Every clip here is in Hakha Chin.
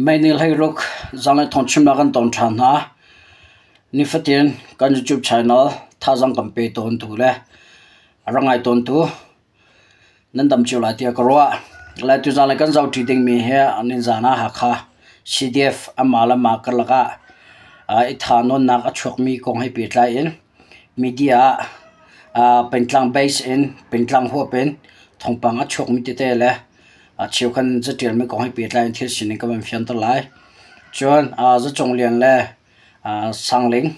Meinih hleiruk zang le thong chimnak kan tong ṭhan hna. Nifatin kan YouTube channel thazaang kan pe tawntu le a ra ngai tawntu nan dam cio lai tiah ka ruah. Lai tuzaan le kan zohṭi dingmi hi nizaan ah Hakha CDF amah le mah karlak ah i thanuannak a chuakmi kong he pehtlai in media ah pengtlang base in pengtlang huap in thawngpang a chuakmi tete le Cheukhat nih catialmi kong he pehtlai in thil sining kan van fianter lai. Cun zacung lian le sangling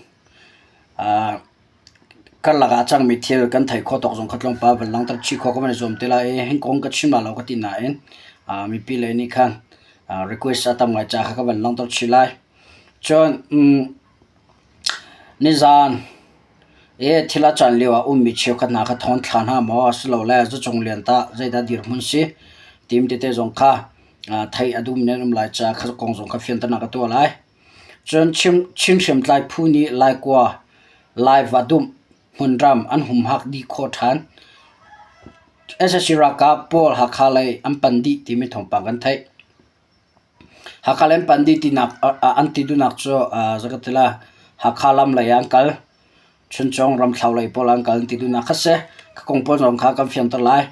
karlak ah cangmi thil kan theih khawh tawk zong kha tlawmpal van langhter chih khawh kan van i zuam te lai i hi kong ka chim lai lo ka ti nain mipi lei nih khan request a tam ngai caah kha kan van langhter chih lai. Cun Nizaan i thil a can lioah ummi cheukhat hna kha thawn thla hna maw asilole zacung lian tah zeidah dirhmun si tim tete zong kha theih a duhmi nan um lai caah kha kong zong kha fianternak ka tuah lai. Cun Chin hriamtlai phu nih Laikua live ah dumh hmunram an humhak dih khawh ṭhan. SSC ralkap pawl Hakha lei an pan dih timi thawngpang kan theih. Hakha le an pandi tinak an ti duhnak cu zakhat ti la Hakha lam lei ah an kal, Chuncung ramthlo lei pawl ah an kal an ti duhnak kha si. Ka kong pawl zong kha kan fianter lai.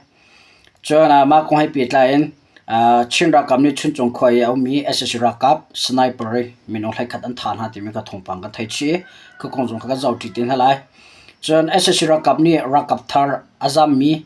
Cun mah kong he pehtlai in Chin ralkap nih Chuncung khua i a um mi sac ralkap sniper minung hleikhat an thah hna timi ka thawngpang kan thei chih i ka kong zong kha kan zohṭi te hna lai. Cun sac ralkap nih ralkap thar a zam mi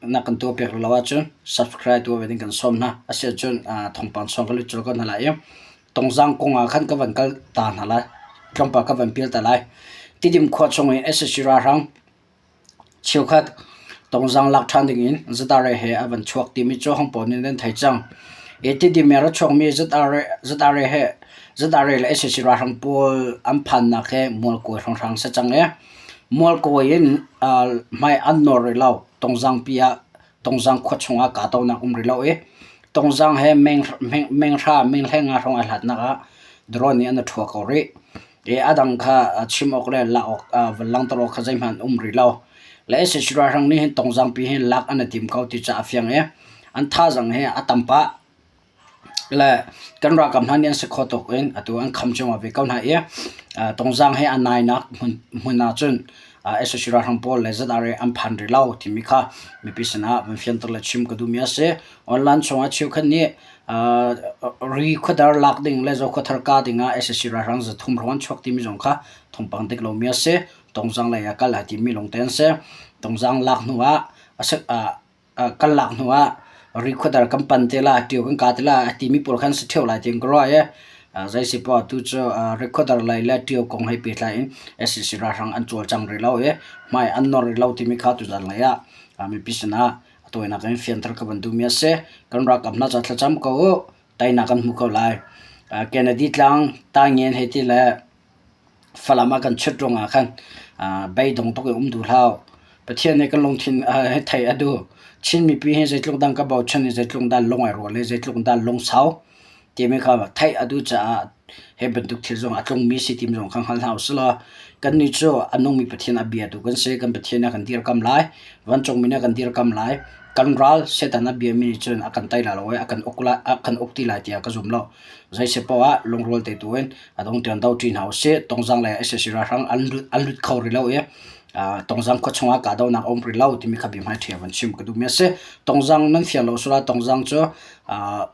Na kan tuahpiak lo ahcun subscribe tuah ve ding kan sawm hna. Asiahcun thawngpang chung kan lut cio ko hna lai i Tawngzang kong ah khan ka van kal ta hna lai. Tlawmpal ka van pial ta lai. Tidim khua chung i SSC ralhrang cheukhat Tawngzang lak ṭhan ding in ZRA he a van chuak timi cu hang pawl nih nan thei cang. I Tidim i rak chuakmi ZRA ZRA he ZRA le SSC ralhrang pawl an phannak hi mualkawi hrangrang si cang i Mualkawi in hmai an nawr rih lo. Tongzang pi ah Tongzang khua chungah kahdohnak um rih lo i Tongzang he menghra menghleng ah hrong ai hlatnak ah drone nih an i ṭhua ko rih. I a dang kha chim awk le lak awk langhter awk kha zeihmanh an um rih lo. Le sac ralhrang nih hin Tongzang pi hi lak an i tim ko ti cu a fiang i an thazaang hi a tam pah. Le kan ralkap hna nih an si kho tuk in atu an kham cuahmah ve ko hna i uh, tungzang he an nainak hmun, hmun ahcun uh, SSC ralhrang pawl le zat are an phan rih lo timi kha mipi sinah van fianter le chim ka duhmi a si. Online chungah cheukhat nih uh, ri khuadar lak ding le zo khuathar ka dingah SSC ralhrang zathum ruan chuak timi zong kha thawngpang dik lomi a si. Tungzang lei ah kal a timi longte an si. Tungzang lak hnu ah a, uh, kan lak hnu ah recorder kan pan te lai ṭio kan ka te lai a timi pawl kha an si ṭheo lai tiin ka ruah i zeisi poah atu cu recorder lei le ṭio kong he pehtlai in SCC ralhrang an cawlcang rih lo i hmai an nawr rih lo timi kha tu zan lei ah mipi sin ah a tawinak in fianter ka van duhmi a si kan ralkap hna ca thlacam ko u teinak kan hmu ko lai Kennedy tlang tai ngen he ti le Falam ah kan chut ruangah khan beidong tuk in um duh hlah uh. Pathian nih kan lungthin hi theih a duh. Chin mipi hi zeitluk dang ka bochan i zeitluk dang lung ai rual le zeitluk dang lungsau timi kha theih a duh caah hi bantuk thil zong a tlungmi si timi zong kha hngal hna usih law kannih cu a nungmi Pathian a bia tu kan si. Kan Pathian nih a kan dirkamh lai. Vancungmi nih a kan dirkamh lai. Kan ral Satan a biami nih cun a kan tei lai lo i a kan uk lai, a kan uk ti lai tiah ka zum lo. Zei si poah ah lungrual te tu in a dong ṭian do ṭi hna usih. Tongzang le sac ralhrang an lut, an lut kho rih lo i ah Tongzang khua chungah kahdohnak a um rih lo timi kha biahmai ṭhia van chim ka duhmi a si. Tongzang nan fian lo sulah Tongzang cu ah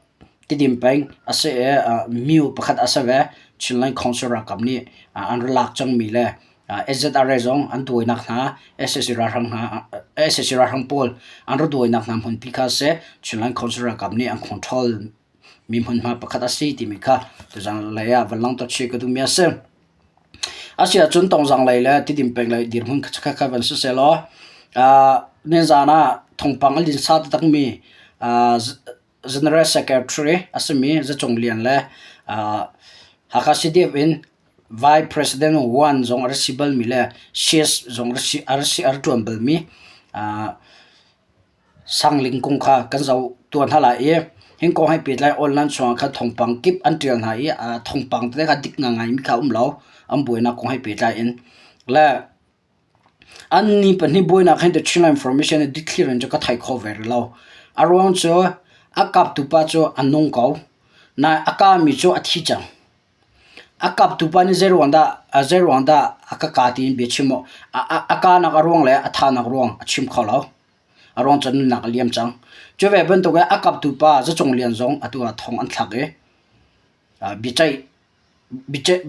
Tidim peng a si i ah myu pakhat a si ve. Chinland Council ralkap nih ah an ra lak cangmi le ah SZRA zong an duainak hna sac ralhrang hna sac ralhrang pawl an ra duainak hna hmunpi kha a si. Chinland Council ralkap nih an control mi hmunhma pakhat a si timi kha tuzanglei ah van lang tuah chih ka duhmi a si. Asiahcun tongzanglei le tidim penglei dirhmun khatkhat kha van si sehlaw ah nizan ah thawngpang an linsa taktakmi ah General Secretary a simi Zacung Lian le ah Hakha CDF in Vice President Wan zong a rak si balmi le Shears zong a rak si- a rak si- a rak ṭuan balmi ah Sangling kung kha kan zo tuan hna lai i hingkawng hei pet lai online chungah khan thawngpang kip an ṭial hna i a thawngpang tete kha dik nga ngai mi kha a um lo an buainak kong hei pehtlai in le an ni pahnih buainak hin the Chinland Information i dikthlirin cu ka thei kho ve rih lo a ruang cu a kaptu pa cu a nung ko nain a ka mi cu a thi cang. A kaptu pa nih zeiruang dah a ka kaa tiin bia chim maw? A kaanak a ruang le a thanak ruang a chim kho lo. A ruang cu nunnak a liam cang. Cu ve bantuk i a kaptu pa zacung lian zong atu ah thong an thlak i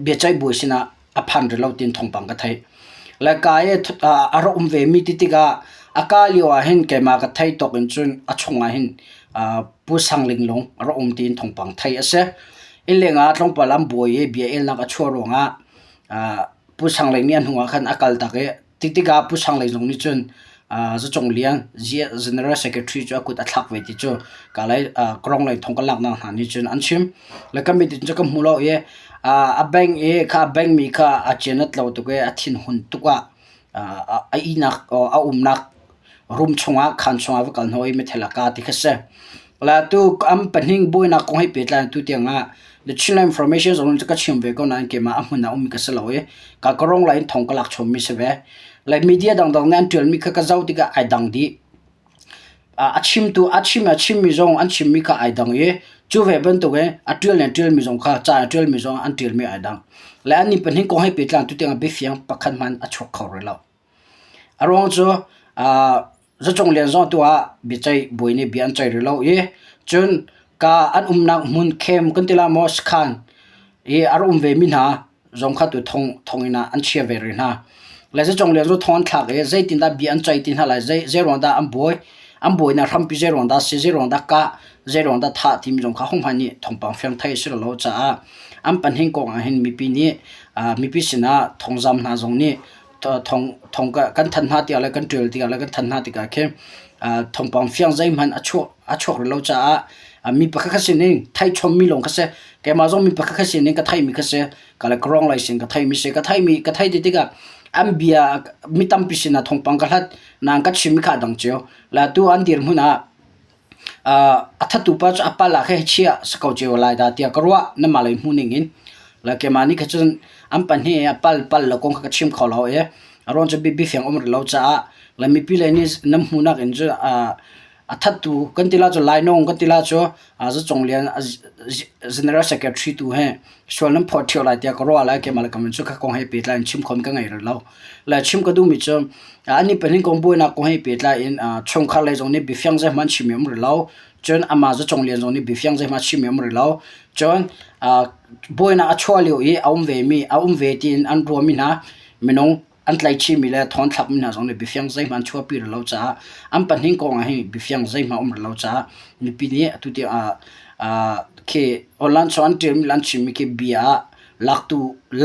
biaceih bawi sinah a phan rih lo tiin thawngpang ka theih. Le kaa i a rak um vemi ti tikah a kaa lio ahhin keimah ka theih tawk in cun a chungah hin Pu Sang Ling Lung a rak um tiin thawngpang theih a si. Innleng ah tlawmpal an bawi i biaelnak a chuah ruangah ah Pu Sang Lei nih a hnuah khan a kal tak i ti tikah Pu Sang Lei zong nih cun ah Zacung Lian General Secretary cu a kut a thlak ve ti cu kalay ah Krong lei thong ka laknak hna nih cun an chim. Le kan meeting cu kan hmu lo i ah a bank i kha a bank mi kha a cianat lo tuk i a thinhun tuk ah ah a ihnak a umnak rum chungah khan chungah va kal hnawh i mithel a ka ti kha si la tu am pahning buainak kong hei pehtlai tu tiangah the Chinland information zong ka chim ve ko nain keimah a hmun ah um ka si lo i ka karong la in thong ka lak chom mi si ve like media dang dang nan tial mi kha ka zau tikah ai dang di a chim tu a chim a chim mi zong an chim mi kha ai dang i chu ve bantuk e a tial ne tial mi zong kha cha tial mi zong an tial mi ai dang le an ni pahning kong hei pehtlai tu tiangah bifiang pakhat man a chuk kho re lo A ruang cu zacung lianzawng tu ah biaceih buai nih bia an ceih rih lo i cun kaa an umnak hmun khem kan ti lah maw sakhan i a rak um vemi hna zong kha tu thong in ah an chia ve rih hna. Le zacung lian cu thong an thlak i zeitindah bia an ceih ti hna lai, zei ruang dah an buai, an buainak hrampi zei ruang dah a si, zei ruang dah kah, zei ruang dah thah timi zong kha hohmanh nih thawngpang fiang thei a si lo caah an pahnih kong ah hin mipi nih mipi sinah thawngzam hna zong nih thong kan than hna tiah le kan ṭial tiah le kan than hna tikah khi thongpang fiang zeihmanh a chuak a chuak rih lo caah mi pakhat kha sining thai chommi lawng kha si keimah zong mi pakhat kha sining ka theimi kha si ka le ka rong lai sin ka theimi si ka theimi ka thei ti tikah an bia mi tampi sinah thongpang ka hlat nang ka chimmi kha a dang cio la tu an dir hmun ah A thattu pa cu a pala kha hi chiah si ko cio lai dah tiah ka ruah. Na mah lei hmuh ning in. Le keimah nih kha cun an pahnih i a pal pal le kong kha ka chim kho lo i a ruang cu bifiang a um rih lo caah le mipi lei nih nan hmuhnak in cu a thattu kan ti la cu lainawng kan ti la cu Zi Cung Lian General Secretary tu hi sual nan phawt ṭhio lai tiah ka ruah lai keimah le ka min cu ka kong he pehtlai in chim khon ka ngei rel lo. Le chim ka duhmi cu an nih pahnih kong buainak kong he pehtlai in chungkhar lei zong nih biafiang zeihmanh chim i um rel lo. Cun amah zacwnglian zong nih biafiang zeihmanh chim i um rel lo. Cun buainak a chuah lio i a um vemi a um ve tiin an ruahmi hna minung an tlaih chinmi le thawng thlakmi hna zong nih biafiang zeihmanh an chuahpi rih lo caah an pahnih kong ah hi biafiang zeihmanh a um rih lo caah mipi nih atutiang ah ah khi lansawh an ṭialmi le an chimmi khi bia ah laktu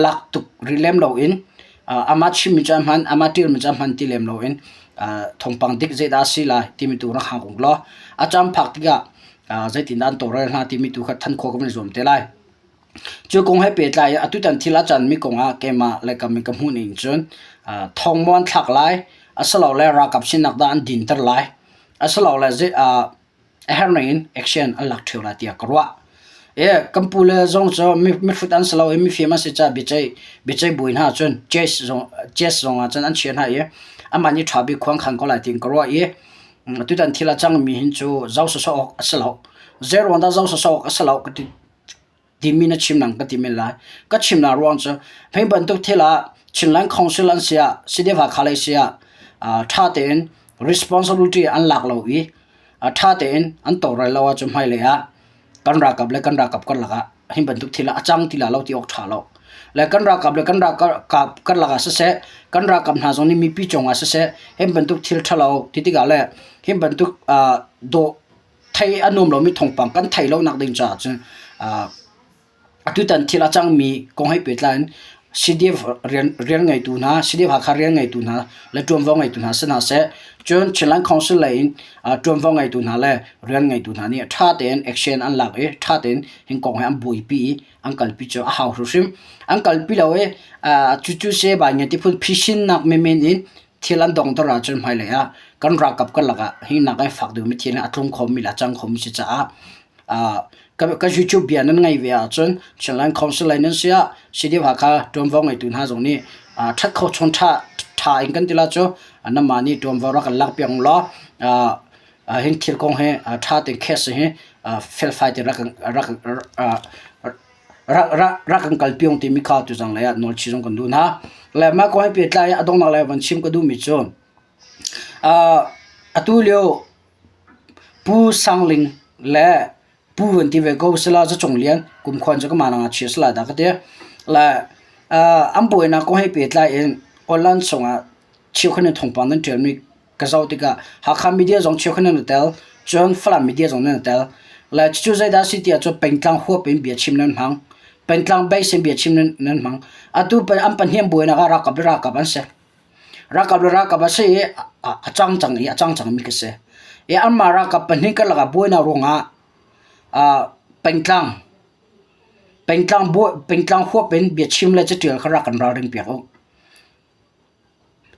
lak tuk rih lem loin ah amah chimmi cu a hman amah ṭialmi cu a hman ti lem loin ah thawngpang dik zeidah a si lai timi tu rak hang uk law a caan phak tikah ah zeitindah an tawlrel hna timi tu kha than khawh kan van i zuam te lai. Cu kong he pehtlai i atutan thil ah cun mi kong ah keimah le ka min ka hmuh ning cun uh, thawng maw an thlak lai asilole ralkap sinak dah an dinter lai asilole zei uh, a herning in action an lak ṭheo lai tiah ka ruah e kan pu le zong cu mihrut an si lo i mifim an si ca biaceih biaceih buin hna cun chess zong chess zong ah cun an chia hna i aman i ṭha bik khuang khan ko lai tiin ka ruah i tutan thil a cang mi hin cu zau sosok a si lo zeruang dah zau sosok a si lo ka ti timi na chim nang ka ti men lai. Ka chimnak ruang cu hmei bantuk thil ah Chinland Council an si ah Sidewa Kalay si ah aa ṭha tein responsibility an lak lo i a ṭha tein an tawlrel lo ahcun hmailei ah kan ralkap le kan ralkap karlak ah hi bantuk thil ah a cang ti lai lo ti awk ṭha lo. Le kan ralkap le kan ralkap karlak ah siseh kan ralkap hna zong nih mipi cungah siseh hi bantuk thil ṭhalo ti tikah le hi bantuk aa daw thei a nuam lomi thongpang kan thei lonak ding caah cun atutan thil a cangmi kong he pehtlai in CDF rian ngeitu hna CDF Hakha rian ngeitu hna le ṭuanvo ngeitu hna si hna seh cun Chinland Council lei in ṭuanvo ngeitu hna le rian ngeitu hna nih ṭha tein action an lak i ṭha tein hin kong he an buaipi i an kalpi cu a hau hrimhrim an kalpi lo i cucu se bai nge ti phun phisinnak menmen in Thil an dongter ahcun hmailei ah kan ralkap karlak ah hi nak ai fak deuhmi thil hi a tlung khomi le a cang khomi si caah kan YouTube bia nan ngaih ve ahcun Chinland Council lai nan si ah CDF Hakha ṭuanvo ngeitu hna zong nih ṭhat kho chung ṭha in kan ti la cu nanmah nih ṭuanvo rak kan lak piak ulaw hin thil kong hi ṭha tein case hi felfai tein rak kan rak kan kal piong timi kha tu zang lei ah nawl chi zong kan duh hna le ma ko hai pe tlai a dongnak lai van chim ka duh mi cu atu lio pu sangling le pu van ti ve ko sala za chung lian kum khon chu kama nang a chia sala da ka te le an boina ko hai pe tlai in online song a chiu khan thongpang nan tial mi ka zoh tikah Hakha media zong cheu kha nan tel cun Falam media zong nan tel le cucu zeidah si tiah cu pengtlang huap in bia chim nan hmang pengtlang base in bia chim nan, nan hmang atu an pahniam buainak ah rakap le rakap an si rakap le rakap a si i a, a cang cang i a cang cang mi ka si i anmah rakap pahnih ka laka buainak ruangah uh, pengtlang pengtlang buai pengtlang huap in bia chim le catial kha rak kan ralring piak u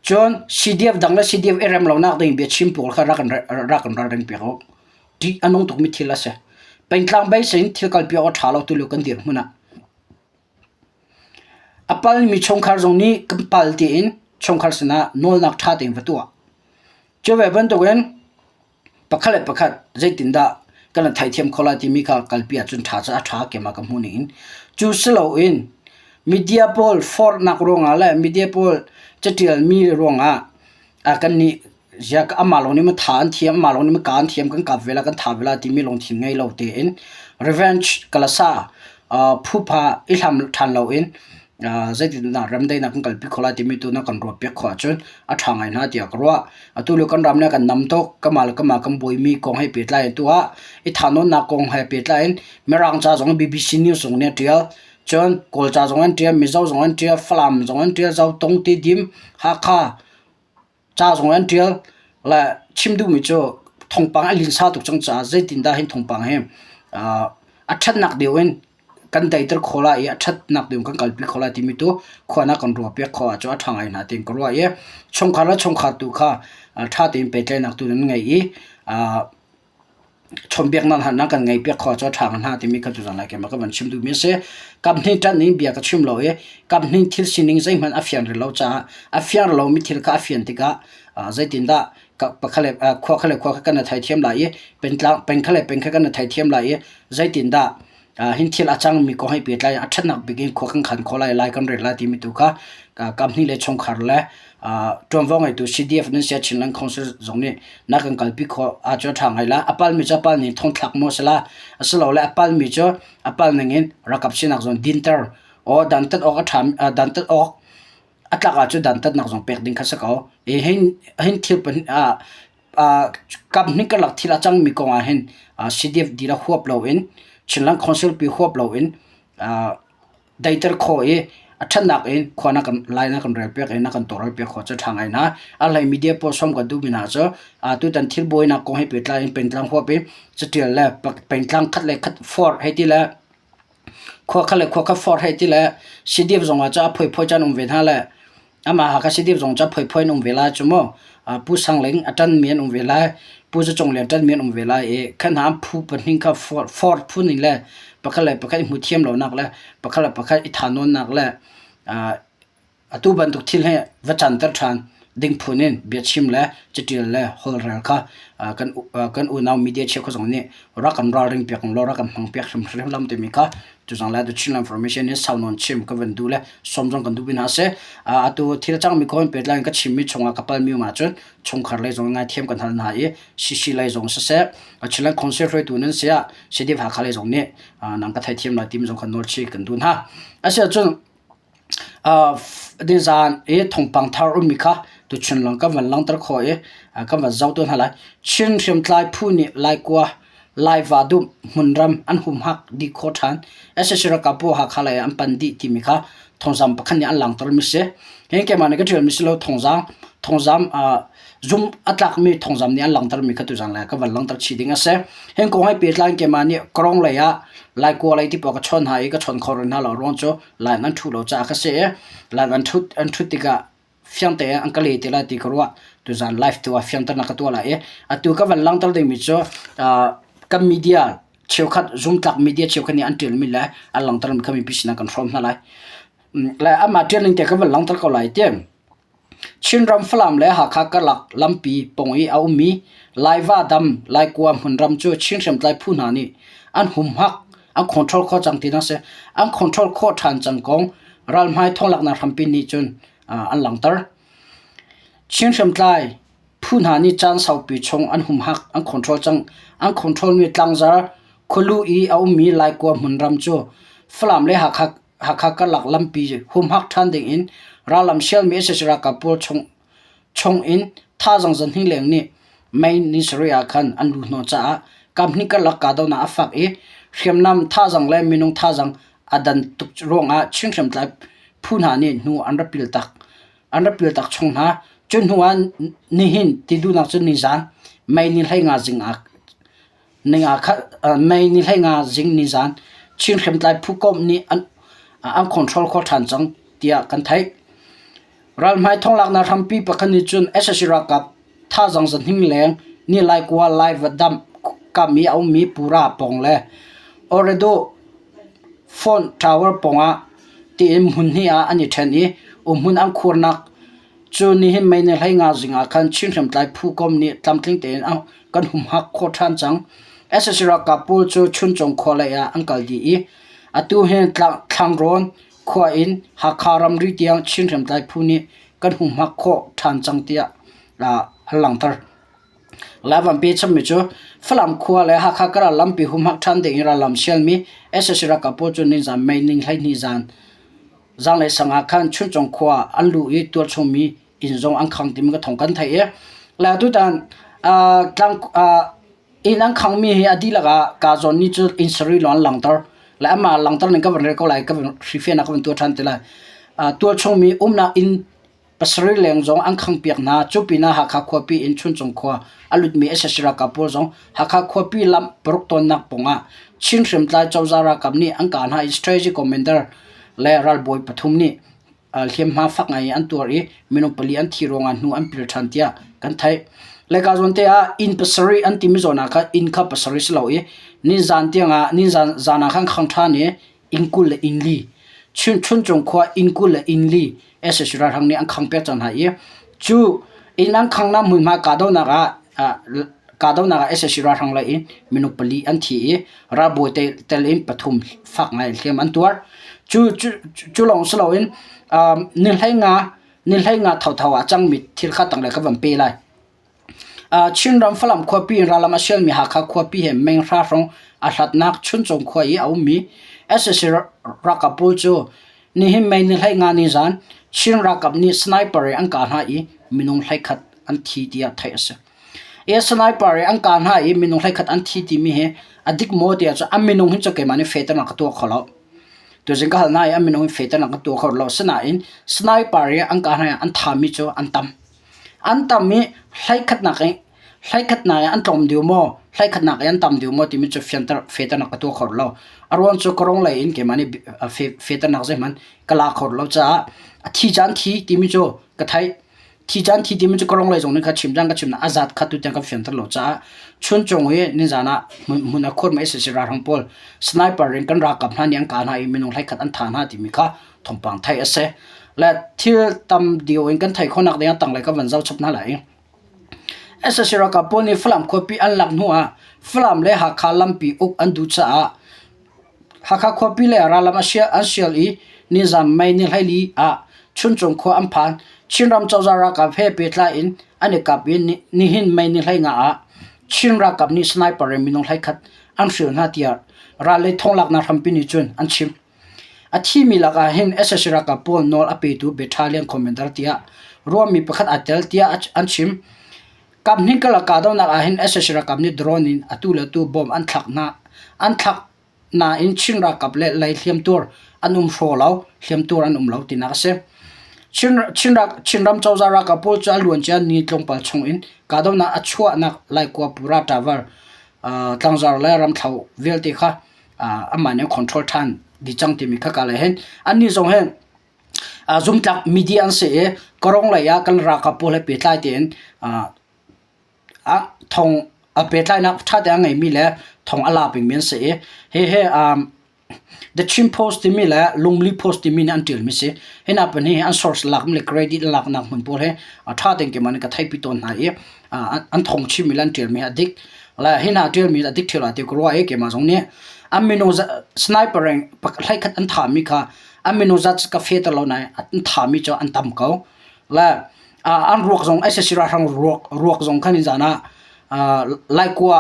Cun CDF dang le CDF i rem lonak ding biachim pawl kha rak in rak in ralring piak u. Ṭih a nung tukmi thil a si. Pengtlang bei sin thil kalpi awk a ṭha lo tulio kan dirhmun ah. A palmi chungkhar zong nih kan pal tiin chungkhar sinah nawlnak ṭha tein va tuah. Cu ve bantukin pakhat le pakhat zeitindah kan i theithiam kho lai timi kha kalpi ahcun ṭha cu a ṭha keimah ka hmuh ningin cu si loin media pawl forhnak ruangah le media pawl caṭialmi ruangah kannih zia amah lawng nih maw tha an thiam amah lawng nih maw kaa an thiam kan kap ve la kan tha ve la timi lungthin ngei lo tein revenge ka la sa Phupha i hlam ṭhan loin zeitindah remdaihnak kan kalpi khawh lai timi tu na kan ruahpiak khawh ahcun a ṭha ngai hna tiah ka ruah. Atu lio kan ram le kan nam tuk kemal kemal kan buaimi kong he pehtlai in tuah i thanwnnak kong he pehtlai in Mirang ca zong BBC News zong nih a ṭial. Cun Kawlca zong an ṭial, Mizo zong an ṭial, Falam zong an ṭial, Zotung, Tedim, Hakha, ca zong an ṭial le chim duhmi cu thawngpang a linsa tuk cang caah zeitindah hin thawngpang hi a ṭhatnak deu in kan teiter kho lai i a ṭhatnak deu in kan kalpi kho lai timi tu khuanak kan ruahpiak khawh ahcun a ṭha ngai hna tiin ka ruah i chungkhar le chungkhar tu kha ṭha tein pehtlaihnak tu nan ngei i Chawnhbiaknak hna nan kan ngaihpiak kho ah cu a ṭha hnga timi kan tuzang lai keimah ka van chim duhmi a si. Kaphnih ṭanh in bia ka chim lo i kaphnih thil sining zeihmanh a fian rih lo caah a fiar lomi thil kha a fian tikah zeitindah pakhat le khua kha le khua kha kan i theithiam lai i pengtlang peng kha le peng kha kan i theithiam lai i zeitindah hin thil a cangmi kong he pehtlai a ṭhatnak bik in khua kan khan khawh lai lai kan rel lai timi tu kha kam hnih le chungkhar le ṭuanvo ngeitu CDF nan sia Chinland Council zong nih na kan kalpi kho a cu ṭha ngai la a palmi cu a pal ning thong thlak maw sila a si lo le a palmi cu a pal ning in rakap sinak zon dinter o dantat awk a ṭha dantat awk a tlak ah cun dantatnak zong pek ding kha si ko. E hin hin thil pan ah ah kam hnik ka lak thil a cangmi kong ah hin ah CDF dila huap lo in Chinland Council pi huap lo in ah daiter kho i a thannak in khua na kan lai na kan rel piak i na kan toral piak kho cu thang ai na a lai media po som ka du bina cu a tu tan thil boi na kong hi petla in pentlang huap i catial le pentlang khat le khat for hei ti le khua kha le khua kha forh hei ti le sidip zongah cu a phuiphui cu an um ve hna le amah Hakha sidip zong cu a phuiphui an um ve lai cu mu Pu Sang Ling a ṭanmi an um ve lai Pu Za Cung Lian ṭanmi an um ve lai i kha hna an phu pahnih kha forh forh phun in le pakhat le pakhat i hmu thiam lonak le pakhat le pakhat i tha nawnnak le aa Atu bantuk thil hi va canter ṭhan ding phun in biachim le caṭial le holhrel kha uh, kan kan unau media cheu kha zong nih rak kan ralring piak law rak kan hmang piak hrim hrim lam timi kha tu zang le the Chinland Information in sau non chim ka van du le som zong kan du bin ha se atu thil chang mi ko in pet lai ka chim mi chunga kapal mi ma chun chungkhar lei zong ngai thiam kan hal na i CC lei zong se se a chilan council hroi tu nan sia CDF ha kha lei zong ni nang ka thai thiam na team zong kan nol chi kan dun ha ase chun Nizaan i thawngpang thar ummi kha tuchun lawng kan van langhter khawh i kan van zohtu hna lai. Chin hriamtlai phu nih Laikua laiva dumh hmunram an humhak dih khawh ṭhan. Sac ralkap pawl Hakha lei ah an pan dih timi kha thawngzam pakhat nih an langhtermi a si. Hihi keimah nih ka ṭialmi si lo thawngzam thawngzam zumh a tlakmi thawngzam nih an langhtermi kha tuzaan lei ah kan van langhter chih ding a si. Hihi kong he pehtlai in keimah nih Kerong lei ah Laikua lei ti pawl ka chawn hna i ka chawn kho rih hna lo ruang cu Line an ṭhut lo caah ka si i line an ṭhut an ṭhut tikah fiangte in an ka le ti lai ti ka ruah. Tuzaan live tu ah fiangte na ka tuah lai i atu ka van langhter dingmi cu ah, kan media cheukhat zumtlak media cheukhat nih an ṭialmi le an langhter mi kha mipi sinah kan hrawm hna lai. Le amah ṭialning te ka van langhter ko lai ti. Chinram Falam le Hakha karlak lampi pawng i a ummi Laiva dam Laikua hmun ram cu Chin hriamtlai phu hna nih an humhak an control khawh cang tinak a si. An control khawh ṭhan cang kong ralhmai thawnglaknak hrampi nih cun an langhter. Chin hriamtlai phu hna nih caan saupi chung an humhak an control cang. An controlmi tlangzar khualu i a ummi Laikua hmun ram cu Falam le Hakha Hakha karlak lampi humhak ṭhan dingin rallam sialmi sac ralkap pawl chung in thazang zan hnih leng nih Main Ni sarih ah khan an lut hna caah kamhnih karlak kahdohnak a fak i hriamnam thazang le minung thazang a dan tuk ruangah Chin hriamtlai phu hna nih hnu an rak pil tak an rak pil tak chung hna cu hnu ah nihin ti duhnak cu nizaan May ni hlei nga zing ah Ning aa khat mei ni hlei nga zing ni zan Chin hriamtlai phu komh nih an an control kho ṭhan cang tiah kan theih. Ralhmai thonglaknak hrampi pakhat nih cun SSC ralkap thazang zanhing leng ni laikua lai va damh kam i a ummi Pura pawng le Oredo Font Tower pawng ah tiin hmun hnih ah an i ṭhen i umhmun an khurnak Cu ni hin mei nih hlei nga zing ah khan Chin hriamtlai phu kom nih tlamtling tein a kan humhak khawh ṭhan cang. SSC ralkap pawl cu Chuncung khua lei ah an kal dih i atu hin Thlangrawn khua in Hakha ramri tiang Chin hriamtlai phu nih kan humhak khawh ṭhan cang tiah an langhter. Lai Vanpi chimmi cu Falam khua le Hakha ka ral lampi humhak ṭhan ding in rallam sialmi SSC ralkap pawl cu nizan mei ning hleihnih zan Zanglei sang ah khan Chuncung khua an lu i tualchungmi inn zong an khang timi ka thong kan theih i la tutan tlang inn an khangmi hi a dihlak ah ka zawn ni cu inn sarui lo an langter la amah langter ning ka van rel ko lai ka van hrifian ah ka van tuah ṭhan te lai tualchungmi umnak inn pasarih leng zong an khangpiak hna. Cu pinah Hakha khuapi in Chuncung khua a lutmi SS ralkap pawl zong Hakha khuapi lam paruk tonnak pungah Chin hriamtlai cozah ralkap nih an kah hna i strategy commander le ralbawi pathum nih uh, hliamhma fak ngai in an tuar i minung pali an thi ruangah hnu an pil ṭhan tiah kan theih. Leka zawn te ah inn pasarih an timi zawn ah khan inn kha pasarih si lo i ninzan tiangah ninzan zan ah khan khang ṭhan i inn kul le inn li chunchun cung khua inn kul le inn li SSC ralhrang nih an khang pek cang hna i cu inn an khang na hmunhma kahdohnak ah kahdohnak ah SSC ralhrang lei in minung pali an thi i ralbawi tel in pathum fak ngai hliam an tuar cu cu lawng si loin ni hlei nga ni hlei nga thotho ah cangmi thil kha tanglei ka van pe lai Chinram Falam khuapi in rallam a sialmi Hakha khuapi he meng hrahrong a hlatnak Chuncung khua i a ummi sac ralkap pawl cu nihin May ni hleihnga nizan Chin ralkap nih sniper in an kah hna i minung hleikhat an thi tiah theih a si. Sniper in an kah hna i minung hleikhat an thi timi hi a dik maw ti ahcun a minung hi cu keimah nih fehternak ka tuah kho lo. Tuzing ka hal hna i a minung hi fehternak ka tuah kho lo. Asinain sniper in an kah hna i an thami cu an tam. an tam i hleikhatnak i hleikhatnak i an tlawm ding maw hleikhatnak i an tam ding maw timi cu fianter fehternak ka tuah kho lo a ruang cu ka rawng lei in keimah nih fehternak zeihmanh ka la kho lo caah a thi caan thi timi cu ka theih thi caan thi timi cu ka rawng lei zong nih kha chim cang ka chim na a zat kha tu tiang kan fianter lo caah chun cung i nizan ah hmun a khur ma si si ralhrang pawl sniper in kan ralkap hna nih an kah hna i minung hleikhat an tha hna timi kha thawngpang theih a si le thil tam dio in kan theih khonak ding ah tanglei kan van zoh chap hna lai SSC ralkap pawl nih Falam khuapi an lak hnu ah Falam le Hakha lampi uk an duh caah Hakha khuapi le rallam an sial i nizam mei ni hlaili ah chuncung khua an phan Chinram cozah ralkap he pehtlai in an i kap i nihin mei ni hlei nga ah Chin ralkap nih sniper in minung hlei khat an hrial hna tiah ral lei thonglaknak hrampi nih cun an chim A thimi lakah hin SSC ralkap pawl nawl a petu Battalion Commander tiah ruahmi pakhat aa tel tiah an chim. Kaphnih karlak kahdohnak ahhin SSC ralkap nih drone in atu le atu bomb an thlak hna. An thlak nain Chin ralkap le lei hliamtuar an um hraw lo, hliamtuar an um lo tinak a si. Chin ram cozah ralkap pawl cu a luancia ni tlawmpal chung in kahdohnak a chuahnak Laikua Puratavar tlangzar le ramthlo vialte kha aman in control than di chang timi khaka lai hen an ni zong hen zumtlak media an se e karong lai a kan raka po le pe tlai ten a thong a pe tlai na tha te ngai mi le thong ala ping men se e he he the chin post timi le lungli post timi ne an til mi se hena pan hi an source lak le credit lak nak mun pol he a tha ten ke man ka thai pi ton na e an thong chim mi an tialmi a dik la hi na tialmi a dik thila ti ko rua e ke ma zong nih an mino sniper reng hlai khat an tham mi kha an mino zat ka fe tar lo nai an tham mi cho an tam ko la an ruak zong ai sira hrang ruak ruak zong khan in zana lai kwa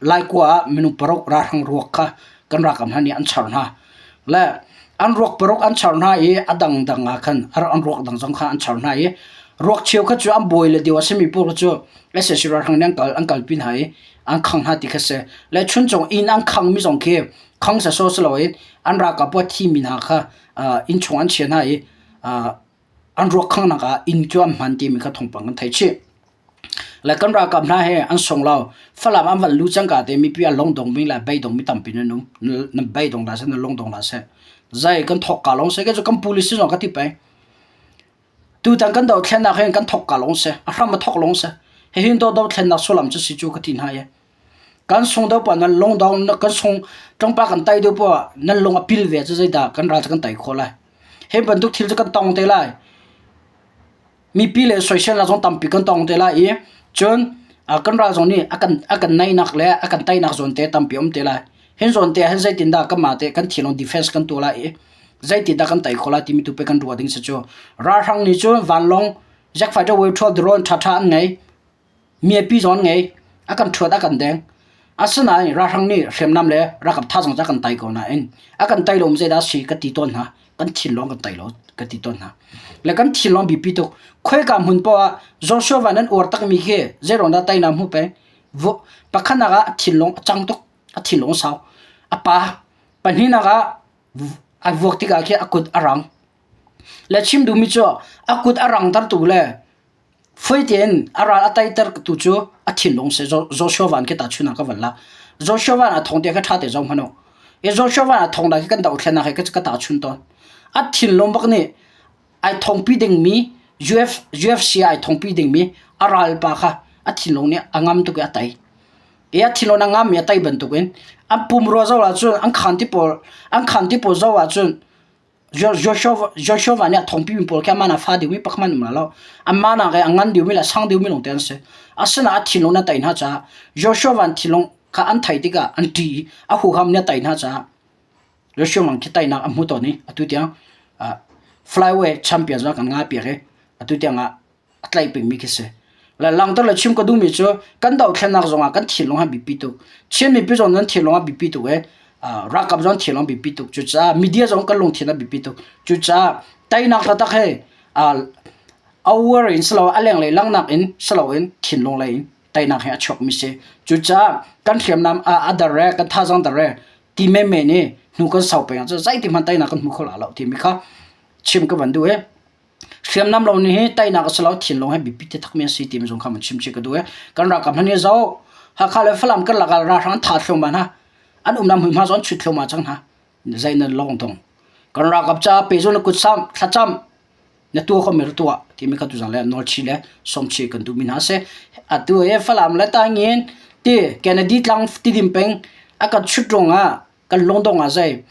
lai kwa minu parok ra hrang ruak kha kan rakam han ni an char na le an ruak paruk an char hna i a dangdang ah khan an ruak dang zong kha an char hna i ruak cheu kha cu an bawi le deu a simi pawl kha cu ese sira hrang nih an kal an kal pin hai an khang hna ti kha se le chun chung inn an khang mi zong khi khang sa so silo in an rak a puat thi mi hna kha in chung an chia hna i an ruakhanghnak ah inn cu an hman timi kha thawngpang kan thei chih le kan ralkap hna he an song lo falam an van lu cangka te mipi an long dong bing le bei dong mi tampi nan um nan bei dong la se nan long dong la se zai kan thok ka long se ke chu kan policy zong ka ti pe tu tan kan do thlen nak hin kan thok ka long se a hram a thok long se he hin do do thlen nak sulam chu si chu ka ti hna ye kan sung deuh pa nan lung dong kan sung ṭangpa kan tai deuh pa nan lung a pil ve cu zeidah kan ral cu kan tai khawh lai he bantuk thil cu kan tong te lai mipi le soisel la zong tampi kan tong te lai i cun kan ral zong nih a kan a kan naihnak le a kan tainak zawn te tampi a um te lai hin zawn te hin zeitindah kanmah te kan thilong defense kan tuah lai i zeitindah kan tei khawh lai timi tu pe kan ruah ding si cu ralhrang nih cun vanlong jack fighter wave 12 drone ṭhaṭha an ngei miapi zawn ngei a kan thuat a kan deng asinain ralhrang nih hriamnam le ralkap thazang cu a kan tai ko nain a kan tai lo mi zeidah si ka ti tawn hna kan thinlong kan tai lo ka ti tawn hna le kan thinlong biapi tuk khoika hmun poah ah joshua van an uar takmi khi zeiruang dah tainak hmu peng pakhatnak ah a thinlong a cang tuk a thinlong sau a pa pahnihnak ah a vuak tikah khi a kut a rang le chim duhmi cu a kut a rang tertu le Fai tein a ral a taiter tu cu a thinlung si Joshua van khi tahchunh ah ka van lak. Joshua van a thong te ka tha te zong hmano. I Joshua van a thong da khi kan doh thlen ah khi ka tahchunh tawn. A thinlung bak nih ai thongpi dingmi UF, UFC ai thongpi dingmi a ral pa kha a thinlung nih a ngam tuk i a tai. I a thinlung a ngam i a tai bantuk in an pumrua zoh ahcun an khan ti pawl an khan ti pawl zoh ahcun Joshua nih a thongpi mi pawl khi amah nih a fa deuhmi pakhat an um lai lo. Anmah nak i a ngan deuhmi le a sang deuhmi lawngte an si. Asinain a thinlung nih a tei hna caah Joshua van thinlung kha an thei tikah an ṭih i a huham nih a tei hna caah Joshua mang khi teinak a hmu tawn i atu tiang uh, flyway champions kan ngai piak i atu tiang ah a tlaih pengmi khi si la langter le chim ka duhmi cu kan dohthlennak zongah kan thinlung han bipi tuk chin mipi zong nan thinlung a bipi tuk e rakap zong thinlung bipi tuk cucaah media zong kan lungthin a bipi tuk cucaah teinak taktak he awar in silo aleng lei langnak in silo in thinlung lei in teinak he a chuakmi si cucaah kan hriamnam a dar re kan thazang dar re ti me me nih hnu kan sau peng cu zeiti hman teinak kan hmu kho la lo timi kha chim ka van duh e hriamnam lo ni hi tainak a si lo thil lawng he bipi te thakmi a si ti zong kha mun chim chi ka du e kan ralkap hna nih zo hakha le falam kan lakal ralhrang tha thluang ma hna an um nam hma zon chut thluang ma chang hna zai na long tong kan ralkap cha pe zon kut sam thlacham na tua ko mer tua ti mi ka tu zang le nol chi le som chi kan du min ha se atu e falam le ta ngin ti kennedy tlang ti dim peng akat chut ronga kan long dong a zai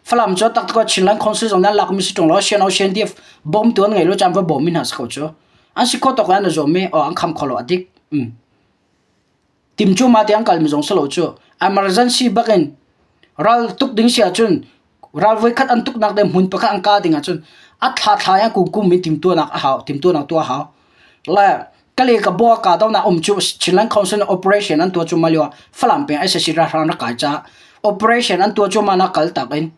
Falam cho tak ko Chinland Council zong nan lakmi si tung lo Sien Ocean Div bom tu an ngai lo chan va bom min has ko chu an si ko tok an zo me o an kham kholo adik um tim chu ma te an kal mi zong selo chu emergency bakin ral tuk ding sia chun ral voi khat an tuk nak de mun pakhat an ka ding a chun at thla thla ya ku kum mi tim tu nak a hau tim tu nak tu a hau la kale ka bo ka do na om chu chinland council operation an to chu malio falam pe ssa ra ran ra kai cha operation an to chu mana kal tak in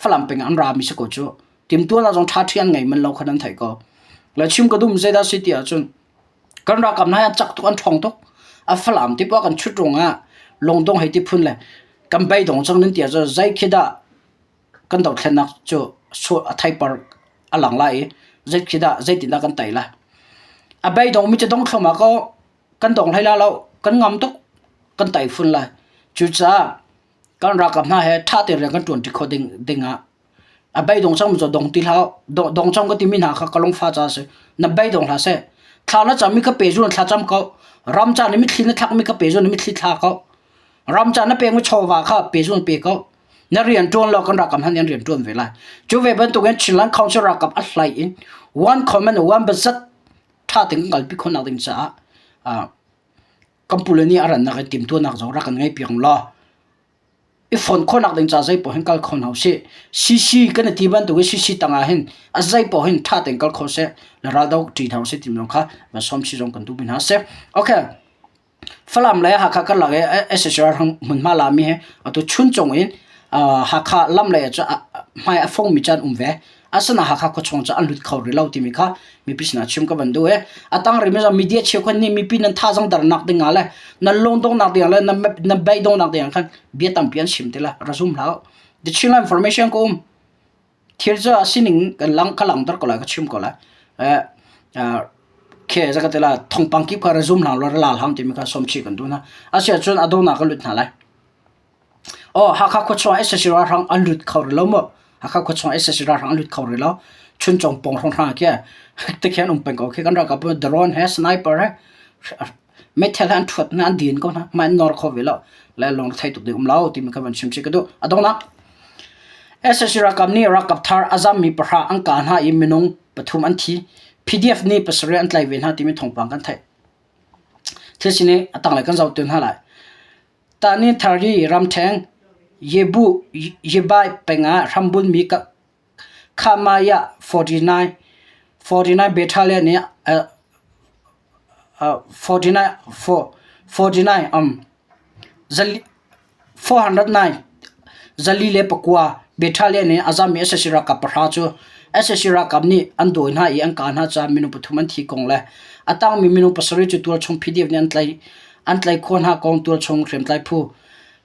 falam pe an ra mi se ko chu tim tu la jong tha thian ngai man lo khanan thai ko la chim ka dum zeda city a chun kan ra kam na chak tu an thong to a falam ti pa kan chut runga long dong hai ti phun le kan bai dong chang nin tia zo zai khida kan dothlennak cu sur a theipar a lang lai i zeikhi dah zeitindah kan tei lai. A beidong mi cu dong thluahmah ko kan dong hlei la lo kan ngam tuk kan tei fun lai. Cucaah kan ralkap hna he ṭha tein rian kan ṭuanṭi khawh ding dingah a beidong cang mi cu dong ti hlah dong dong cang ka timi hna kha ka lungfa caah a si. Na beidong hlah seh thla na cam i ka pe zun thla cam ko ram ca na mitthli na thlak mi ka pe zun na mitthli thla ko ram ca na peng mi chawva kha pe zun pe ko na rian tuan lo kan rakam han in rian tuan ve lai chu ve bantuk in Chinland Council rakam a hlai in one comment one bazat tha ting ngal pi khon nak ding cha a kampule ni aran nak tim tu nak zo ra kan ngai piang lo i phone khon nak ding cha zai po hin kal khon hau si CC kan ti ban tu CC tanga hin a zai po hin tha teng kal kho se la ra dau ti thau se tim long kha ba som chi zong kan tu bin ha se okay Falam le Hakha karlak i SSR hmunhma lami hi atu chun cung in Hakha lam lei ah hmai a fongmi can um ve. Asinain Hakha khuachung cu an lut kho rih lo timi kha mipi sinah chim ka van duh i a tang rih mi media cheu khan nih mipi nan thazang dar nak ding ah le nan lung dong nak ding ah le nan bai dong nak ding ah khan bia tampi an chim ti la ra zum hlah u. The Chinland Information ko um. thir cu a sining kan lang ka langhter ko lai ka chim ko lai khe zakhat tila thongpang kip kha ra zum hlang ra lal hang timi kha som chi kan duhna asia cun adona ka lut hna lai o hakha khuachung esasira hrang an lut khau rilo mo hakha khuachung esasira hrang lut khau rilo chun chong pong hrang hrang ke te khen um pen ko khi kan ra ka drone he sniper he meithal an thuat na an din ko na man nor kho ve lo la long thai tuk de um lo ti mi ka van chim che ka du adong nak SSC rakam ni rakap thar azam mi pahra an ka na i minung pathum an thi PDF ni pasarih an tlai ve na ti mi thongpang kan thai thil sini atang lai kan zau tun ha lai ta ni thari ram theng yebu yebai penga rambun mi ka Khamaya 49 battalion nih 49 um 409 zali le pakua battalion nih a zammi SSC ralkap pahra cu SSC ralkap nih an dawi hna i an kah hna caah minung pathum an thi kong le a tangmi minung pasarih cu tualchung PDF nih an tlaih khawh hna kong tualchung hriamtlai phu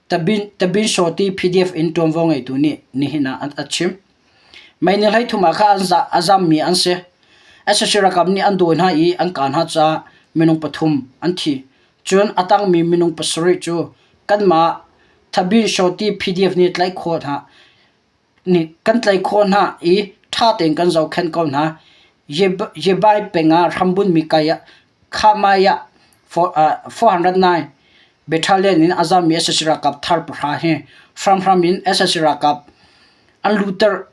Tabinshawti PDF in ṭuanvo ngeitu nih nihin ah a chim. Mei nih hleithum ah khan a zammi an si. sac ralkap nih an dawi hna i an kaa hna caah minung pathum an thi. Cun a tangmi minung pasarih cu kanmah Tabinshawti PDF nih tlaih khawh hna. nih kan tlaih khawh hna i ṭha tein kan zohkhenh ko hna. Yebai peng ah hrambun mi kai ah Khamai ah 409 battalion in a zammi SSC ralkap thar pahra hi hramhram in SSC ralkap an lutter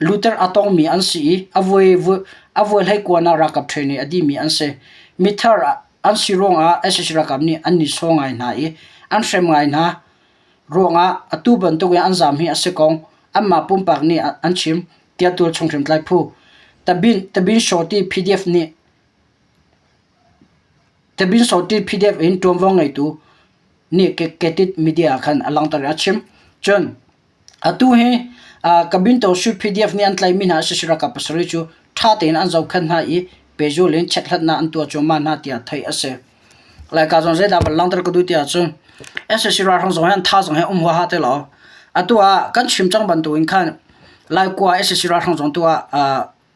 Luther a tawngmi an si i a vuai hleikuan ah ralkap ṭhene a dimi an si. Mithar an si ruangah sac ralkap nih an nihsawh ngai hna i an hrem ngai hna ruangah atu bantukin an zaam hi a si ko. Anmah pumpak nih an chim, tiah tualchung hrimtlai phu Tabinsotti PDF in ṭuanvo ngeitu nih Ketit media ah khan a langhter i a chim. Cun Atu hi uh, Cabinto Sweet PDF nih an tlaimi hna sashi rakap pasarih cu ṭha tein an zohkhenh hna i pejul in check hlatnak an tuah cuahmah hna tiah theih a si. Lai ka zon zeidah ballang tar ka du tiah cun SSC ralhrang zong hian tha zong hi um huwa ha te lo. Atu ah kan chim cang bantuin khan Lai kua SSC ralhrang zong tu ah uh,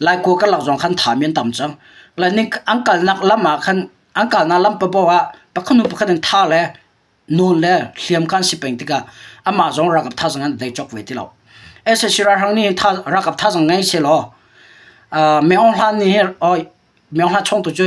lai kua karlak zong khan tha mi an tam cang lai ning an kalnak lam ah khan an kalnak lam pa bo ah pakhat nu pakhat in tha le nawn le hliam kan si peng tikah amah zong rakap tha zong an dai chok ve ti lo SSC rang ni tha rakap tha zong ngai se lo me ong hlan ni he oi me ong hlan chong tu chu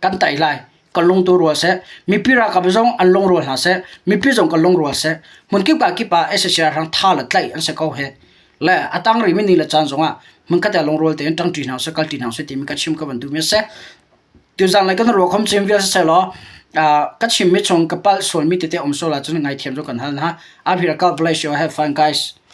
kan tei lai kan lung tu rual seh mipi ralkap zong an lung rual hna seh mipi zong kan lung rual seh hmun kip ka kip ah SSR hrang tha la tlaih an se ko he le atang ri min ni la chan zong ah mun ka ta lung rual te in tang ṭi hna se kal ṭi hna se ti mi ka chim ka ban tu me se tu zan lai kan ro khom chim vial se lo ka chim mi chung ka pal sual mi te te om so la chun ngai thiam zo kan hal na a bhira ka bless you have fun guys